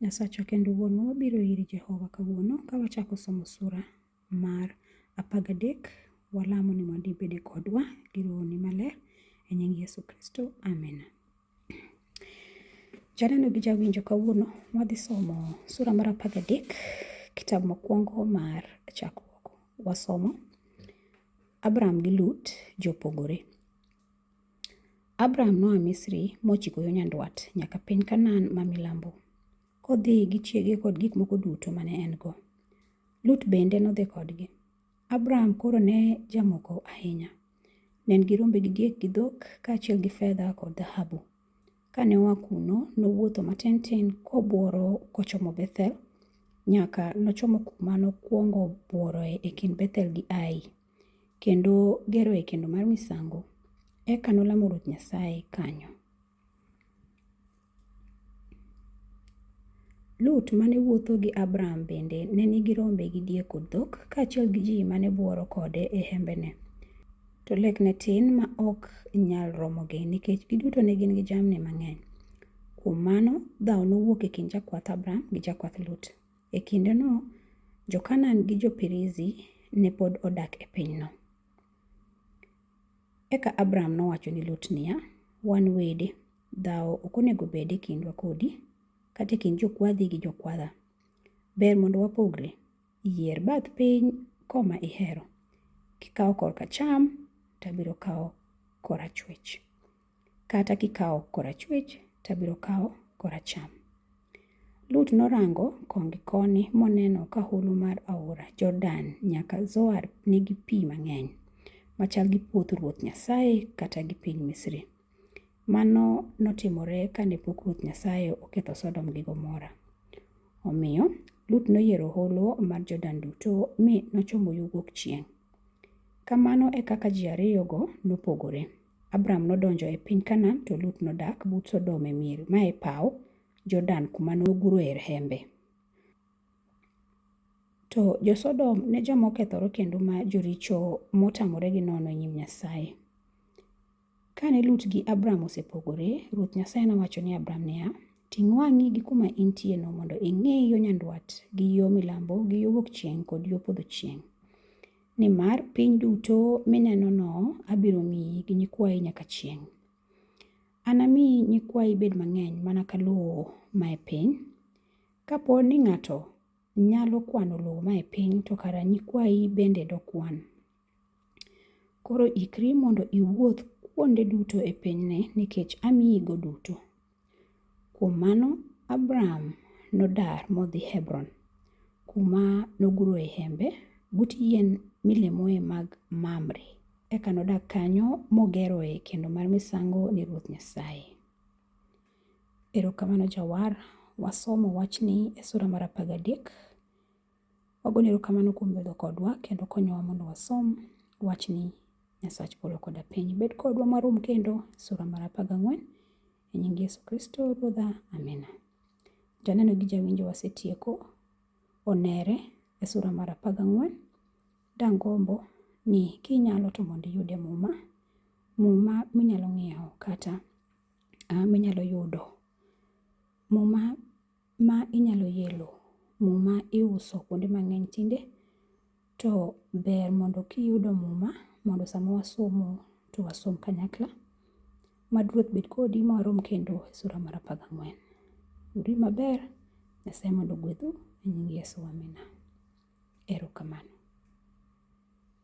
Nyasachwa kendo Wuonwa, wabiro iri Jehova kawuono ka wachako somo sura mar apar gadek. Walamo ni mondo ibede kodwa gi rohoni maler. E nying Yesu Kristo, amina. Janeno gi jawinjo kawuono wadhi somo sura mar apar gadek kitabu mokwongo mar chakruok. Wasomo Abraham gi Lut jopogore. Abraham noa Misri mochiko yo nyandwat nyaka piny Kanaan ma milambo, kodhi gi chiege kod gik moko duto mane en-go. Lut bende nodhi kodgi. Abraham koro ne jamoko ahinya. Ne en gi rombe gi diek gi dhok, kaachiel gi fedha kod dhahabu. Kane oa kuno, nowuotho matin tin kobworo kochomo Bethel, nyaka nochomo kuma nokwongo bworoe e kind Bethel gi Ai, kendo geroe kendo mar misango. Eka nolamo Ruoth Nyasaye kanyo. Lut ma ne wuotho gi Abram bende ne nigi rombe gi diek kod dhok, kaachiel gi ji ma ne bworo kode e hembene. To lek ne tin ma ok nyal romogi nikech giduto ne gin gi jamni mang'eny. Kuom mano, dhawo nowuok e kind jakwath Abram gi jakwath Lut. E kindeno, Jo-Kanaan gi Jo-Perizi ne pod odak e pinyno. Eka Abram nowacho ni Lut niya, Wan wede, dhawo ok onego bed e kindwa kodi, kata e kind jokwadhi gi jokwadha. Ber mondo wapogre. Yier bath piny koma ihero. Kikawo korka cham, to abiro kawo korachwich. Kata kikawo korachwich, to abiro kawo koracham. Lut norango koni gi koni moneno ka holo mar aora Jordan nyaka Zoar nigi pi mang'eny, machal gi puoth Ruoth Nyasaye kata gi piny Misri. Mano notimore kane pok Ruoth Nyasaye oketho Sodom gi Gomora. Omiyo, Lut noyiero holo mar Jordan duto mi nochomo yo wuok chieng'. Kamano e kaka ji ariyogo nopogore. Abram nodonjo e piny Kanaan to Lut nodak but Sodom e mier ma e paw Jordan kuma noguroe hembe. To jo-Sodom ne joma okethore kendo ma joricho motamore gi nono e nyim Nyasaye. Kane Lut gi Abram osepogore, Ruoth Nyasaye nowacho ni Abram niya, Ting' wang'i gi kuma intieno mondo ing'e yo nyandwat gi yo milambo gi yo wuok chieng' kod yo podho chieng'. Nimar piny duto minenono abiro miyi gi nyikwayi nyaka chieng'. Anami nyikwayi bed mang'eny mana ka lowo mae piny. Kapo ni ng'ato nyalo kwano lowo mae piny, to kara nyikwayi bende dokwan. Koro ikri mondo iwuoth kuonde duto e pinyni nikech amiyigo duto. Kuom mano, Abram nodar modhi Hebron, kuma noguroe hembe but yien milemoe mag Mamre. Eka nodak kanyo mogeroe kendo mar misango ne Ruoth Nyasaye. Erokamano Jawar, wasomo wachni e sura mar apar gadek. Wagoni erokamano kuom bedo kodwa kendo konyowa mondo wasom wachni Nyasach polo koda piny. Bed kodwa marom kendo sura mar apar gang'wen e nying Yesu Kristo Ruodha. Amina. Janeno gi jawinjo wasetieko onere e sura mar apar gang'wen. Dangombo ni kinyalo to mondo iyude muma, muma minyalo ng'iewo kata ah, minyalo yudo muma ma inyalo yelo muma iuso kuonde mang'eny tinde to ber mondo kiyudo muma mondo sama wasomo to wasom kanyakla. Mad Ruoth bed kodi ma warom kendo e sula mar apar gang'wen. Uri maber, Nyasaye mondo ogwedhu e nying Yesu, amina. Erokamano.